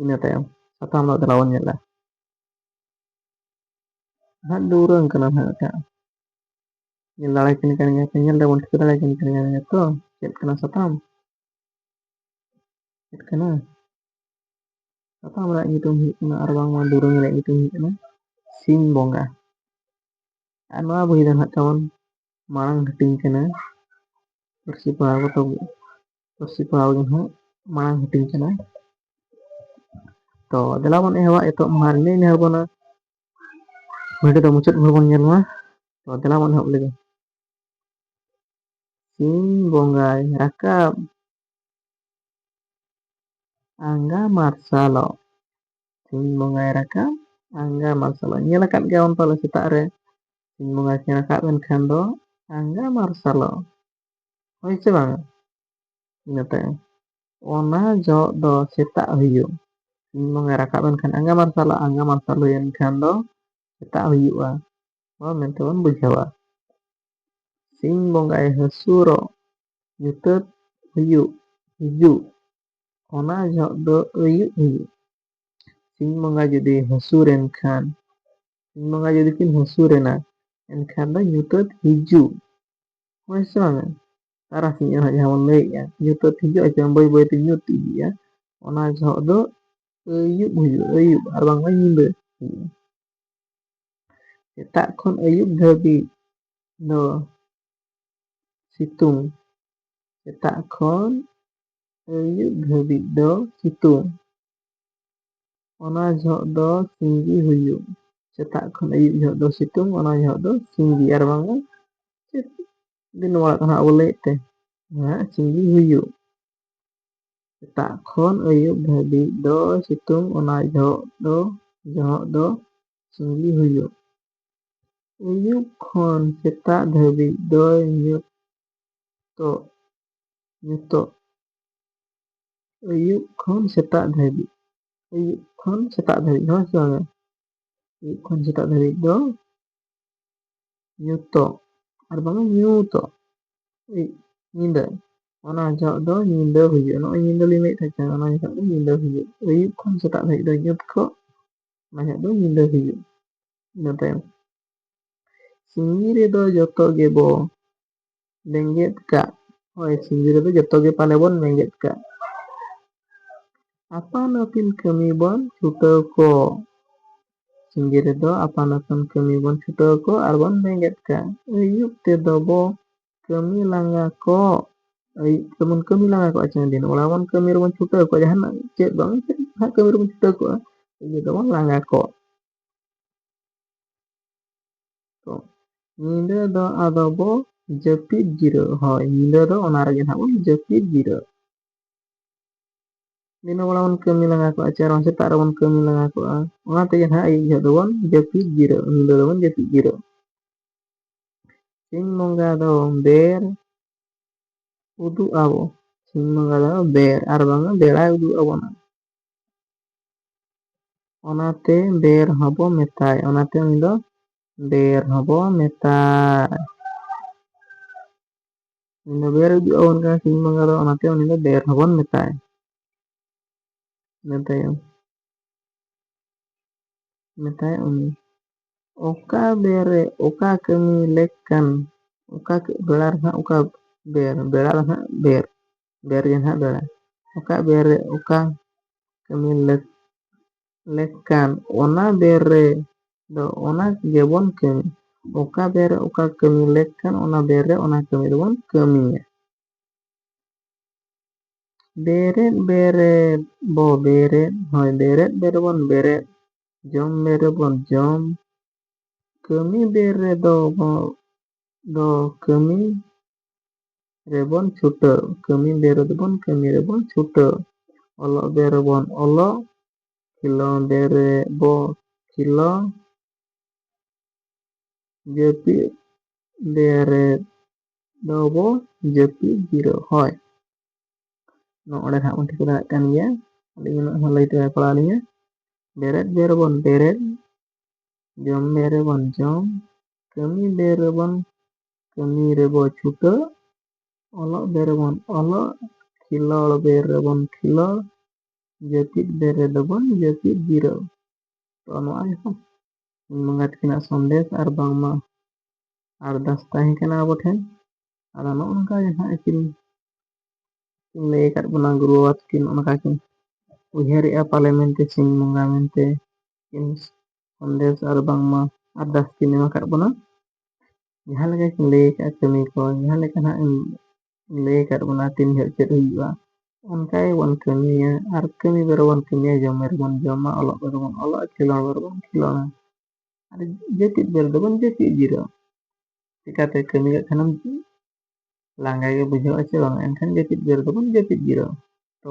ᱤᱱᱟᱹ ᱛᱟᱭᱚᱢ ᱥᱟᱛᱟᱢ ᱫᱚ ᱫᱮᱞᱟ ᱵᱚᱱ ᱧᱮᱞᱟ ᱦᱟᱸᱜ ᱫᱩᱨᱟᱹᱝ ᱠᱟᱱᱟ ᱦᱟᱸᱜ ᱢᱤᱫᱴᱟᱝ ᱧᱮᱞ ᱫᱟᱲᱮ ᱠᱤᱱ ᱠᱟᱱ ᱜᱮᱭᱟ ᱯᱮ ᱧᱮᱞ ᱫᱟᱵᱚᱱ ᱴᱷᱤᱠᱟᱹ ᱫᱟᱲᱮ ᱠᱤᱱ ᱠᱟᱱ ᱜᱮᱭᱟ ᱛᱚ ᱪᱮᱫ ᱠᱟᱱᱟ ᱥᱟᱛᱟᱢ ᱪᱮᱫ ᱠᱟᱱᱟ ᱥᱟᱛᱟᱢ ᱨᱮᱭᱟᱜ ᱧᱩᱛᱩᱢ ᱦᱩᱭᱩᱜ ᱠᱟᱱᱟ ᱟᱨ ᱵᱟᱝᱢᱟ ᱫᱩᱨᱟᱹᱝ ᱨᱮᱭᱟᱜ ᱧᱩᱛᱩᱢ ᱦᱩᱭᱩᱜ ᱠᱟᱱᱟ ᱥᱤᱧ ᱵᱚᱸᱜᱟ ᱟᱨ ᱱᱚᱣᱟ ᱵᱚᱦᱤ ᱫᱚ ᱦᱟᱸᱜ ᱛᱟᱵᱚᱱ ᱢᱟᱲᱟᱝ ᱦᱟᱹᱴᱤᱧ ᱠᱟᱱᱟ ᱯᱟᱹᱨᱥᱤ ᱯᱟᱲᱦᱟᱣ ᱠᱟᱛᱮ ᱯᱟᱹᱨᱥᱤ ᱯᱟᱲᱦᱟᱣ ᱜᱮ ᱦᱟᱸᱜ ᱢᱟᱲᱟᱝ ᱦᱟᱹᱴᱤᱧ ᱠᱟᱱᱟ ᱛᱚ ᱫᱮᱞᱟ ᱵᱚᱱ ᱮᱦᱚᱵᱟ ᱮᱛᱚᱦᱚᱵ ᱢᱟᱦᱟ ᱨᱮ ᱱᱤᱭᱟᱹ ᱮᱦᱚᱵ ᱵᱚᱱᱟ ᱵᱷᱤᱰᱤᱭᱳ ᱫᱚ ᱢᱩᱪᱟᱹᱫ ᱵᱷᱳᱨ ᱵᱚᱱ ᱧᱮᱞ ᱢᱟ ᱛᱚ ᱫᱮᱞᱟ ᱵᱚᱱ ᱮᱦᱚᱵ ᱞᱮᱜᱮ ᱥᱤᱧ ᱵᱚᱸᱜᱟᱭ ᱨᱟᱠᱟᱵ ᱟᱸᱜᱟ ᱢᱟᱨᱥᱟᱞᱚᱜ ᱥᱤᱧ ᱵᱚᱸᱜᱟᱭ ᱨᱟᱠᱟᱵ ᱟᱸᱜᱟ ᱢᱟᱨᱥᱟᱞᱚᱜ ᱧᱮᱞ ᱟᱠᱟᱫ ᱜᱮᱭᱟ ᱵᱚᱱ ᱯᱟᱞᱮ ᱥᱮᱛᱟᱜ ᱨᱮ ᱥᱤᱧ ᱵᱚᱸᱜᱟ ᱠᱤᱱ ᱨᱟᱠᱟᱵ ᱮᱱᱠᱷᱟᱱ ᱫᱚ ᱟᱸᱜᱟ ᱢᱟᱨᱥᱟᱞᱚᱜ ᱦᱳᱭ ᱥᱮ ᱵᱟᱝ ᱤᱱᱟᱹ ᱛᱟᱭᱚᱢ ᱚᱱᱟ ᱡᱚᱜ ᱫᱚ ᱥᱮᱛᱟᱜ ᱦᱩᱭᱩᱜ ᱥᱤᱧ ᱵᱚᱸᱜᱟᱭ ᱨᱟᱠᱟᱵ ᱮᱱ ᱠᱷᱟᱱ ᱟᱸᱜᱟ ᱢᱟᱨᱥᱟᱞᱚᱜ ᱟᱸᱜᱟ ᱢᱟᱨᱥᱟᱞ ᱦᱩᱭᱮᱱ ᱠᱷᱟᱱ ᱫᱚ ᱥᱮᱛᱟᱜ ᱦᱩᱭᱩᱜᱼᱟ ᱱᱚᱣᱟ ᱢᱮᱱᱛᱮ ᱵᱚᱱ ᱵᱩᱡᱷᱟᱹᱣᱟ ᱥᱤᱧ ᱵᱚᱸᱜᱟᱭ ᱦᱟᱹᱥᱩᱨᱚᱜ ᱧᱩᱛᱟᱹᱛ ᱦᱩᱭᱩᱜ ᱦᱤᱡᱩᱜ ᱚᱱᱟ ᱡᱚᱦᱚᱜ ᱫᱚ ᱟᱹᱭᱩᱵ ᱦᱩᱭᱩᱜ ᱥᱤᱧ ᱵᱚᱸᱜᱟ ᱡᱩᱫᱤ ᱦᱟᱹᱥᱩᱨ ᱮᱱ ᱠᱷᱟᱱ ᱥᱤᱧ ᱵᱚᱸᱜᱟ ᱡᱩᱫᱤ ᱠᱤᱱ ᱦᱟᱹᱥᱩᱨ ᱮᱱᱟ ᱮᱱᱠᱷᱟᱱ ᱫᱚ ᱧᱩᱛᱟᱹᱛ ᱦᱤᱡᱩᱜ ᱦᱳᱭ ᱥᱮ ᱵᱟᱝ ᱛᱟᱨᱟᱥᱤᱧ ᱟᱨᱦᱚᱸ ᱡᱟᱦᱟᱸ ᱵᱚᱱ ᱞᱟᱹᱭᱮᱫᱼᱟ ᱧᱩᱛᱟᱹᱛ ᱦᱤᱡᱩᱜ ᱟᱥᱮ ᱵᱟᱝ ᱵᱟᱹᱭ ᱵᱟᱹᱭᱛᱮ ᱧᱩᱛ ᱤᱫᱤᱜᱼᱟ ᱚᱱᱟ ᱡᱚᱦᱚᱜ ᱫᱚ ᱟᱹᱭᱩᱵ ᱦᱩᱭᱩᱜᱼᱟ ᱟᱹᱭᱩᱵ ᱟᱨ ᱵᱟᱝᱢᱟ ᱧᱤᱫᱟᱹ ᱦᱩᱭᱩᱜᱼᱟ ᱥᱮᱛᱟᱜ ᱠᱷᱚᱱ ᱟᱹᱭᱩᱵ ᱫᱷᱟᱹᱵᱤᱡ ᱫᱚ ᱥᱤᱛᱩᱝ ᱥᱮᱛᱟᱜ ᱠᱷᱚᱱ ᱟᱹᱭᱩᱵ ᱫᱷᱟᱹᱵᱤᱡ ᱫᱚ ᱥᱤᱛᱩᱝ ᱚᱱᱟ ᱡᱚᱦᱚᱜ ᱫᱚ ᱥᱤᱸᱜᱤ ᱦᱩᱭᱩᱜ ᱥᱮᱛᱟᱜ ᱠᱷᱚᱱ ᱟᱹᱭᱩᱵ ᱡᱚᱦᱚᱜ ᱫᱚ ᱥᱤᱛᱩᱝ ᱚᱱᱟ ᱡᱚᱦᱚᱜ ᱫᱚ ᱥᱤᱸᱜᱤ ᱟᱨ ᱵᱟᱝᱟ ᱪᱮᱫ ᱫᱤᱱ ᱱᱚᱣᱟ ᱠᱟᱛᱷᱟ ᱟᱵᱚ ᱞᱟᱹᱭᱮᱫ ᱛᱮ ᱦᱮᱸ ᱥᱤᱸᱜᱤ ᱦᱩᱭᱩᱜ ᱥᱮᱛᱟᱜ ᱠᱷᱚᱱ ᱟᱹᱭᱩᱵ ᱫᱷᱟᱹᱵᱤᱡ ᱫᱚ ᱥᱤᱛᱩᱝ ᱚᱱᱟ ᱡᱚᱦᱚᱜ ᱫᱚ ᱡᱚᱦᱚᱜ ᱫᱚ ᱥᱤᱸᱜᱤ ᱦᱩᱭᱩᱜ ᱟᱹᱭᱩᱵ ᱠᱷᱚᱱ ᱥᱮᱛᱟᱜ ᱫᱷᱟᱹᱵᱤᱡ ᱫᱚᱭ ᱧᱩᱛᱚᱜ ᱧᱩᱛᱚᱜ ᱟᱹᱭᱩᱵ ᱠᱷᱚᱱ ᱥᱮᱛᱟᱜ ᱫᱷᱟᱹᱵᱤᱡ ᱟᱹᱭᱩᱵ ᱠᱷᱚᱱ ᱥᱮᱛᱟᱜ ᱫᱷᱟᱹᱵᱤᱡ ᱦᱳᱭ ᱥᱮ ᱵᱟᱝ ᱟᱹᱭᱩᱵ ᱠᱷᱚᱱ ᱥᱮᱛᱟᱜ ᱫᱷᱟᱹᱵᱤᱡ ᱫᱚ ᱧᱩᱛᱚᱜ ᱟᱨ ᱵᱟᱝ ᱧᱩᱛᱚᱜ ᱧᱤᱫᱟᱹ ᱚᱱᱟ ᱡᱚᱦᱚᱜ ᱫᱚ ᱧᱤᱫᱟᱹ ᱦᱩᱭᱩᱜᱼᱟ ᱱᱚᱜᱼᱚᱭ ᱧᱤᱫᱟᱹ ᱞᱤᱧ ᱞᱟᱹᱭᱮᱫ ᱛᱟᱦᱮᱸ ᱠᱟᱱᱟ ᱚᱱᱟ ᱡᱚᱦᱚᱜ ᱫᱚ ᱧᱤᱫᱟᱹ ᱦᱩᱭᱩᱜ ᱟᱹᱭᱩᱵ ᱠᱷᱚᱱ ᱥᱮᱛᱟᱜ ᱫᱷᱟᱹᱵᱤᱡ ᱫᱚ ᱧᱩᱛ ᱠᱚᱜ ᱚᱱᱟ ᱡᱚᱦᱚᱜ ᱫᱚ ᱧᱤᱫᱟᱹ ᱦᱩᱭᱩᱜ ᱤᱱᱟᱹ ᱛᱟᱭᱚᱢ ᱥᱤᱧ ᱨᱮᱫᱚ ᱡᱚᱛᱚ ᱜᱮᱵᱚ ᱵᱮᱸᱜᱮᱫ ᱠᱟᱜ ᱦᱳᱭ ᱥᱤᱸᱫᱽᱨᱟᱹ ᱫᱚ ᱡᱚᱛᱚ ᱜᱮ ᱯᱟᱞᱮ ᱵᱚᱱ ᱵᱮᱸᱜᱮᱫ ᱠᱟᱜ ᱟᱯᱟᱱ ᱟᱹᱯᱤᱱ ᱠᱟᱹᱢᱤ ᱵᱚᱱ ᱪᱷᱩᱴᱟᱹᱣ ᱠᱚ ᱥᱤᱸᱜᱮ ᱨᱮᱫᱚ ᱟᱯᱟᱱ ᱟᱹᱯᱤᱱ ᱠᱟᱹᱢᱤ ᱵᱚᱱ ᱪᱷᱩᱴᱟᱹᱣ ᱠᱚ ᱟᱨ ᱵᱚᱱ ᱵᱮᱸᱜᱮᱫ ᱠᱟᱜ ᱟᱹᱭᱩᱵ ᱛᱮᱫᱚ ᱵᱚ ᱠᱟᱹᱢᱤ ᱞᱟᱸᱜᱟ ᱠᱚ ᱟᱹᱭᱩᱵ ᱛᱮᱵᱚᱱ ᱠᱟᱹᱢᱤ ᱞᱟᱸᱜᱟ ᱠᱚᱜᱼᱟ ᱪᱮ ᱫᱤᱱ ᱚᱲᱟᱜ ᱵᱚᱱ ᱠᱟᱹᱢᱤ ᱨᱮᱵᱚᱱ ᱪᱷᱩᱴᱟᱹᱣ ᱠᱚᱜᱼᱟ ᱡᱟᱦᱟᱱᱟᱜ ᱪᱮᱫ ᱵᱟᱝ ᱪᱮᱫ ᱦᱟᱸᱜ ᱠᱟᱹᱢᱤ ᱨᱮᱵᱚᱱ ᱪᱷᱩᱴᱟᱹᱣ ᱠᱚᱜᱼᱟ ᱟᱹᱭᱩᱵ ᱫᱚᱵᱚᱱ ᱞᱟᱸᱜᱟ ᱠᱚᱜ ᱛᱚ ᱧᱤᱫᱟᱹ ᱫᱚ ᱟᱫᱚ ᱵᱚ ᱡᱟᱹᱯᱤᱫ ᱡᱤᱨᱟᱹᱜ ᱦᱳᱭ ᱧᱤᱫᱟᱹ ᱫᱚ ᱚᱱᱟ ᱨᱮᱜᱮ ᱱᱟᱦᱟᱜ ᱵᱚᱱ ᱡᱟᱹᱯᱤᱫ ᱡᱤᱨᱟᱹᱜ ᱫᱤᱱᱟᱹ ᱵᱮᱲᱟ ᱵᱚᱱ ᱠᱟᱹᱢᱤ ᱞᱟᱸᱜᱟ ᱠᱚᱜᱼᱟ ᱪᱮ ᱟᱨᱦᱚᱸ ᱥᱮᱛᱟᱜ ᱨᱮᱵᱚᱱ ᱠᱟᱹᱢᱤ ᱞᱟᱸᱜᱟ ᱠᱚᱜᱼᱟ ᱚᱱᱟ ᱛᱮᱜᱮ ᱱᱟᱦᱟᱜ ᱟᱹᱭᱩᱵ ᱡᱚᱦᱚᱜ ᱫᱚᱵᱚᱱ ᱡᱟᱹᱯᱤᱫ ᱡᱤᱨᱟᱹᱜ ᱧᱤᱫᱟᱹ ᱫᱚᱵᱚᱱ ᱡᱟᱹᱯᱤᱫ ᱡᱤᱨᱟᱹᱜ ᱥᱤᱧ ᱵᱚᱸᱜᱟ ᱫᱚ ᱵᱮᱨ ᱩᱫᱩᱜ ᱟᱵᱚ ᱥᱤᱧ ᱵᱚᱸᱜᱟ ᱫᱚ ᱵᱮᱨ ᱟᱨ ᱵᱟᱝᱟ ᱵᱮᱲᱟᱭ ᱩᱫᱩᱜ ᱟᱵᱚᱱᱟ ᱚᱱᱟᱛᱮ ᱵᱮᱨ ᱦᱚᱸᱵᱚ ᱢᱮᱛᱟᱭ ᱚᱱᱟᱛᱮ ᱩᱱᱤ ᱫᱚ ᱵᱮᱨ ᱦᱚᱸᱵᱚ ᱢᱮᱛᱟᱭ ᱩᱱᱤ ᱫᱚ ᱵᱮᱨ ᱦᱤᱡᱩᱜ ᱟᱵᱚᱱ ᱠᱟᱱᱟ ᱥᱤᱧ ᱵᱚᱸᱜᱟ ᱫᱚ ᱚᱱᱟᱛᱮ ᱩᱱᱤ ᱫᱚ ᱵᱮᱨ ᱦᱚᱸᱵᱚᱱ ᱢᱮᱛᱟᱭ ᱤᱱᱟᱹ ᱛᱟᱭᱚᱢ ᱢᱮᱛᱟᱭ ᱩᱱᱤ ᱚᱠᱟ ᱵᱮᱨ ᱨᱮ ᱚᱠᱟ ᱠᱟᱹᱢᱤ ᱞᱮᱠ ᱠᱟᱱ ᱚᱠᱟ ᱵᱮᱲᱟ ᱨᱮ ᱦᱟᱸᱜ ᱚᱠᱟ ᱵᱮᱨ ᱵᱮᱲᱟ ᱨᱮ ᱦᱟᱸᱜ ᱵᱮᱨ ᱵᱮᱨ ᱜᱮ ᱱᱟᱦᱟᱜ ᱫᱟᱹᱲᱟ ᱚᱠᱟ ᱵᱮᱨ ᱨᱮ ᱚᱠᱟ ᱠᱟᱹᱢᱤ ᱞᱟᱹᱠ ᱞᱮᱠ ᱠᱟᱱ ᱚᱱᱟ ᱵᱮᱨ ᱨᱮ ᱫᱚ ᱚᱱᱟ ᱜᱮᱵᱚᱱ ᱠᱟᱹᱢᱤ ᱚᱠᱟ ᱵᱮᱨ ᱨᱮ ᱚᱠᱟ ᱠᱟᱹᱢᱤ ᱞᱮᱠ ᱠᱟᱱ ᱚᱱᱟ ᱵᱮᱨ ᱨᱮ ᱚᱱᱟ ᱠᱟᱹᱢᱤ ᱫᱚᱵᱚᱱ ᱠᱟᱹᱢᱤᱭᱟ ᱵᱮᱨᱮᱫ ᱵᱮᱨᱮᱫ ᱵᱚ ᱵᱮᱨᱮᱫ ᱦᱳᱭ ᱵᱮᱨᱮᱫ ᱵᱮᱨᱮᱫ ᱵᱚᱱ ᱵᱮᱨᱮᱫ ᱡᱚᱢ ᱵᱮᱨ ᱨᱮᱵᱚᱱ ᱡᱚᱢ ᱠᱟᱹᱢᱤ ᱵᱮᱨ ᱨᱮᱫᱚ ᱵᱚ ᱫᱚ ᱠᱟᱹᱢᱤ ᱨᱮᱵᱚᱱ ᱪᱷᱩᱴᱟᱹᱣ ᱠᱟᱹᱢᱤ ᱵᱮ ᱨᱮᱫᱚᱵᱚᱱ ᱠᱟᱹᱢᱤ ᱨᱮᱵᱚᱱ ᱪᱷᱩᱴᱟᱹᱣ ᱚᱞᱚᱜ ᱵᱮ ᱨᱮᱵᱚᱱ ᱚᱞᱚᱜ ᱠᱷᱮᱞᱳᱸᱰ ᱵᱮ ᱨᱮᱵᱚ ᱠᱷᱮᱞᱳᱸᱰ ᱡᱟᱹᱯᱤᱫ ᱵᱮ ᱨᱮᱫᱚᱵᱚ ᱡᱟᱹᱯᱤᱫ ᱡᱤᱨᱟᱹᱣ ᱦᱳᱭ ᱱᱚᱰᱮ ᱱᱟᱦᱟᱜ ᱵᱚᱱ ᱴᱷᱤᱠᱟᱹ ᱫᱟᱲᱮᱭᱟᱜ ᱠᱟᱱ ᱜᱮᱭᱟ ᱟᱹᱞᱤᱧ ᱩᱱᱟᱹᱜ ᱦᱚᱸ ᱞᱟᱹᱭ ᱛᱮᱵᱟᱭ ᱯᱟᱲᱟᱣ ᱞᱤᱧᱟ ᱵᱮᱨᱮᱫ ᱵᱮ ᱨᱮᱵᱚᱱ ᱵᱮᱨᱮᱫ ᱡᱚᱢ ᱵᱮ ᱨᱮᱵᱚᱱ ᱡᱚᱢ ᱠᱟᱹᱢᱤ ᱵᱮ ᱨᱮᱵᱚᱱ ᱠᱟᱹᱢᱤ ᱨᱮᱵᱚ ᱪᱷᱩᱴᱟᱹᱜ ᱚᱞᱚᱜ ᱵᱮᱨ ᱨᱮᱵᱚᱱ ᱚᱞᱚᱜ ᱠᱷᱮᱞᱳᱲ ᱵᱮᱨ ᱨᱮᱵᱚᱱ ᱠᱷᱮᱞᱳᱲ ᱡᱟᱹᱯᱤᱫ ᱵᱮᱨ ᱨᱮᱫᱚ ᱵᱚᱱ ᱡᱟᱹᱯᱤᱫ ᱡᱤᱨᱟᱹᱣ ᱛᱚ ᱱᱚᱣᱟ ᱜᱮᱦᱚᱸ ᱵᱚᱸᱜᱟ ᱛᱟᱹᱠᱤᱱᱟᱜ ᱥᱚᱱᱫᱮᱥ ᱟᱨ ᱵᱟᱝᱢᱟ ᱟᱨᱫᱟᱥ ᱛᱟᱦᱮᱸ ᱠᱟᱱᱟ ᱟᱵᱚ ᱴᱷᱮᱱ ᱟᱫᱚ ᱱᱚᱜᱼᱚ ᱱᱚᱝᱠᱟ ᱜᱮ ᱦᱟᱸᱜ ᱟᱹᱠᱤᱱ ᱠᱤᱱ ᱞᱟᱹᱭ ᱟᱠᱟᱫ ᱵᱚᱱᱟ ᱜᱩᱨᱩ ᱵᱟᱵᱟ ᱛᱟᱹᱠᱤᱱ ᱚᱱᱠᱟ ᱠᱤᱱ ᱩᱭᱦᱟᱹᱨᱮᱜᱼᱟ ᱯᱟᱞᱮ ᱢᱮᱱᱛᱮ ᱥᱤᱧ ᱵᱚᱸᱜᱟ ᱢᱮᱱᱛᱮ ᱥᱚᱱᱫᱮᱥ ᱟᱨ ᱵᱟᱝᱢᱟ ᱟᱨᱫᱟᱥ ᱠᱤᱱ ᱮᱢ ᱟᱠᱟᱫ ᱵᱚᱱᱟ ᱡᱟᱦᱟᱸ ᱞᱮᱠᱟ ᱠᱤᱱ ᱞᱟᱹᱭ ᱟᱠᱟᱫᱼᱟ ᱠᱟᱹᱢᱤ ᱠᱚ ᱡᱟᱦᱟᱸ ᱞᱮᱠᱟ ᱱᱟᱦᱟᱜ ᱞᱟᱹᱭ ᱟᱠᱟᱫ ᱵᱚᱱᱟ ᱛᱤᱱ ᱡᱚᱦᱚᱜ ᱪᱮᱫ ᱦᱩᱭᱩᱜᱼᱟ ᱚᱱᱠᱟ ᱜᱮᱵᱚᱱ ᱠᱟᱹᱢᱤᱭᱟ ᱟᱨ ᱠᱟᱹᱢᱤ ᱵᱮᱨ ᱵᱚᱱ ᱠᱟᱹᱢᱤᱭᱟ ᱡᱚᱢ ᱵᱮᱨ ᱵᱚᱱ ᱡᱚᱢᱟ ᱚᱞᱚᱜ ᱵᱮᱨ ᱵᱚᱱ ᱚᱞᱚᱜᱼᱟ ᱠᱷᱮᱞᱳᱱ ᱵᱮᱨ ᱵᱚᱱ ᱠᱷᱮᱞᱳᱱᱟ ᱟᱨ ᱡᱟᱹᱯᱤᱫ ᱵᱮᱨ ᱫᱚᱵᱚᱱ ᱡᱟᱹᱯᱤᱫ ᱡᱤᱨᱟᱹᱜᱼᱟ ᱪᱤᱠᱟᱛᱮ ᱠᱟᱹᱢᱤ ᱠᱟᱜ ᱠᱷᱟᱱᱮᱢ ᱞᱟᱸᱜᱟ ᱜᱮ ᱵᱩᱡᱷᱟᱹᱜᱼᱟ ᱥᱮ ᱵᱟᱝ ᱮᱱᱠᱷᱟᱱ ᱡᱟᱹᱯᱤᱫ ᱵᱮᱨ ᱫᱚᱵᱚᱱ ᱡᱟᱹᱯᱤᱫ ᱡᱤᱨᱟᱹᱜᱼᱟ ᱛᱚ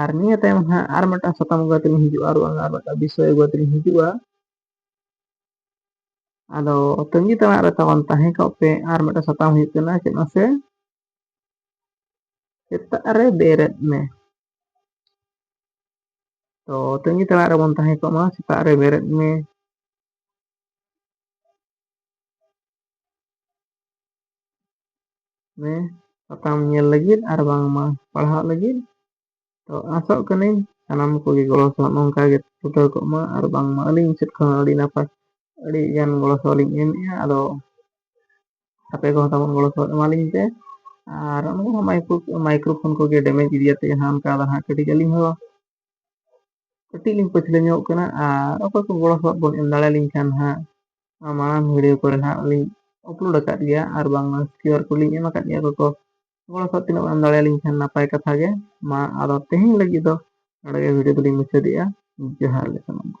ᱟᱨ ᱱᱤᱭᱟᱹ ᱛᱟᱭᱚᱢ ᱦᱟᱸᱜ ᱟᱨ ᱢᱤᱫᱴᱟᱝ ᱥᱟᱛᱟᱢ ᱟᱹᱜᱩ ᱠᱟᱛᱮ ᱞᱤᱧ ᱦᱤᱡᱩᱜᱼᱟ ᱟᱨ ᱵᱟᱝ ᱟᱨ ᱢᱤᱫᱴᱟᱝ ᱵᱤᱥᱚᱭ ᱟᱹᱜᱩ ᱠᱟᱛᱮ ᱞᱤᱧ ᱦᱤᱡᱩᱜᱼᱟ ᱟᱫᱚ ᱛᱟᱹᱜᱤ ᱛᱟᱲᱟᱜ ᱨᱮ ᱛᱟᱵᱚᱱ ᱛᱟᱦᱮᱸ ᱠᱚᱜ ᱯᱮ ᱟᱨ ᱢᱤᱫᱴᱟᱝ ᱥᱟᱛᱟᱢ ᱦᱩᱭᱩᱜ ᱠᱟᱱᱟ ᱪᱮᱫ ᱢᱟᱥᱮ ᱥᱮᱛᱟᱜ ᱨᱮ ᱵᱮᱨᱮᱫ ᱢᱮ ᱛᱚ ᱛᱟᱹᱜᱤ ᱛᱟᱲᱟᱜ ᱨᱮᱵᱚᱱ ᱛᱟᱦᱮᱸ ᱠᱚᱜ ᱢᱟ ᱥᱮᱛᱟᱜ ᱨᱮ ᱵᱮᱨᱮᱫ ᱢᱮ ᱢᱮ ᱥᱟᱛᱟᱢ ᱧᱮᱞ ᱞᱟᱹᱜᱤᱫ ᱟᱨ ᱵᱟᱝᱢᱟ ᱯᱟᱲᱦᱟᱜ ᱞᱟᱹᱜᱤᱫ ᱛᱚ ᱟᱥᱚᱜ ᱠᱟᱹᱱᱟᱹᱧ ᱥᱟᱱᱟᱢ ᱠᱚᱜᱮ ᱜᱚᱲᱚ ᱥᱚᱯᱚᱦᱚᱫ ᱱᱚᱝᱠᱟ ᱜᱮ ᱪᱷᱩᱴᱟᱹᱣ ᱠᱚᱜ ᱢᱟ ᱟᱨ ᱵᱟᱝᱢᱟ ᱟᱹᱞᱤᱧ ᱥᱮᱫ ᱠᱷᱚᱱ ᱟᱹᱰᱤ ᱱᱟᱯᱟᱭ ᱟᱹᱰᱤ ᱜᱟᱱ ᱜᱚᱲᱚ ᱥᱚᱯᱚᱦᱚᱫ ᱞᱤᱧ ᱮᱢᱮᱫᱼᱟ ᱟᱫᱚ ᱟᱯᱮ ᱠᱚᱦᱚᱸ ᱛᱟᱵᱚᱱ ᱜᱚᱲᱚ ᱥᱚᱯᱚᱦᱚᱫ ᱮᱢᱟᱞᱤᱧ ᱯᱮ ᱟᱨ ᱚᱱᱟ ᱢᱟᱭᱠᱨᱳ ᱢᱟᱭᱠᱨᱳ ᱯᱷᱳᱱ ᱠᱚᱜᱮ ᱰᱮᱢᱮᱡᱽ ᱤᱫᱤᱭᱟᱛᱮᱫ ᱡᱟᱦᱟᱸ ᱚᱱᱠᱟ ᱫᱚ ᱦᱟᱸᱜ ᱠᱟᱹᱴᱤᱡ ᱟᱹᱞᱤᱧ ᱦᱚᱸ ᱠᱟᱹᱴᱤᱡ ᱞᱤᱧ ᱯᱟᱹᱪᱷᱞᱟᱹ ᱧᱚᱜ ᱠᱟᱱᱟ ᱟᱨ ᱚᱠᱚᱭ ᱠᱚ ᱜᱚᱲᱚ ᱥᱚᱯᱚᱦᱚᱫ ᱵᱚᱱ ᱮᱢ ᱫᱟᱲᱮᱭᱟᱞᱤᱧ ᱠᱷᱟᱱ ᱦᱟᱸᱜ ᱢᱟᱲᱟᱝ ᱵᱷᱤᱰᱤᱭᱳ ᱠᱚᱨᱮ ᱦᱟᱸᱜ ᱞᱤᱧ ᱟᱯᱞᱳᱰ ᱟᱠᱟᱫ ᱜᱮᱭᱟ ᱟᱨ ᱵᱟᱝᱢᱟ ᱠᱤᱭᱩᱟᱨ ᱠᱳᱰ ᱞᱤᱧ ᱮᱢ ᱟᱠᱟᱫ ᱜᱮᱭᱟ ᱚᱠᱚᱭ ᱠᱚ ᱜᱚᱲᱚ ᱥᱚᱯᱚᱦᱚᱫ ᱛᱤᱱᱟᱹᱜ ᱮᱢ ᱫᱟᱲᱮᱭᱟᱞᱤᱧ ᱠᱷᱟᱱ ᱱᱟᱯᱟᱭ ᱠᱟᱛᱷᱟ ᱜᱮ ᱢᱟ ᱟᱫᱚ ᱛᱮᱦᱮᱧ ᱞᱟᱹᱜᱤᱫ ᱫᱚ ᱱᱚᱰᱮ ᱜᱮ ᱵᱷᱤᱰᱤᱭᱳ ᱫᱚᱞᱤᱧ ᱢᱩᱪᱟᱹᱫᱮᱜᱼᱟ ᱡᱚᱦᱟᱨ ᱜᱮ ᱥᱟᱱᱟᱢ ᱠᱚ